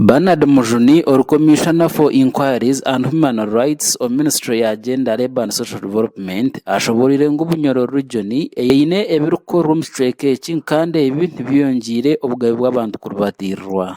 Bernard Mujuni ori Commissioner for Inquiries and Human Rights omu ministry ya Gender, Labour and Social Development ashoboreire ngu Bunyoro region eye eine ebirikukorwa omu kicweka eki kandi ebi nibyongiire obugabe bw'abantu kuribatirirwa.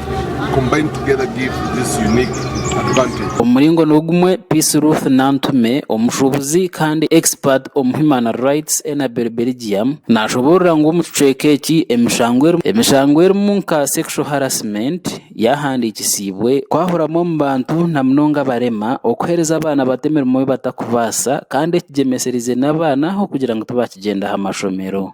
Omu muringo nigumwe, Peace Ruth Nantume, omushuubuzi kandi expert omu Human Rights, Enabel Belgium, naashoboorora ngu omu kicweka eki emishango erimu nka sexual harassment yaahandiikisiibwe, kwahuramu omu bantu na munonga abarema, okuheereza abaana bato emirimo ei batakubaasa, kandi ekigyemesereize n'abaana ahabw'okugira ngu tibaakigyendaho amashomero.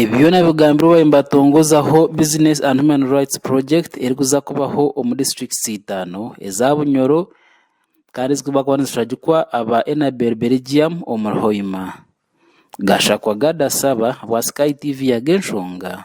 Ebi byona bigambirwe bariyo nibatongozaho Business and Human Rights Project erikuza kubaho omu districts itaano eza Bunyoro kandi ezirikubakuba nizishagikwa aba Enabel Belgium omuri Hoima. Gashakwa Gada Saba bwa Sky TV yaga enshonga.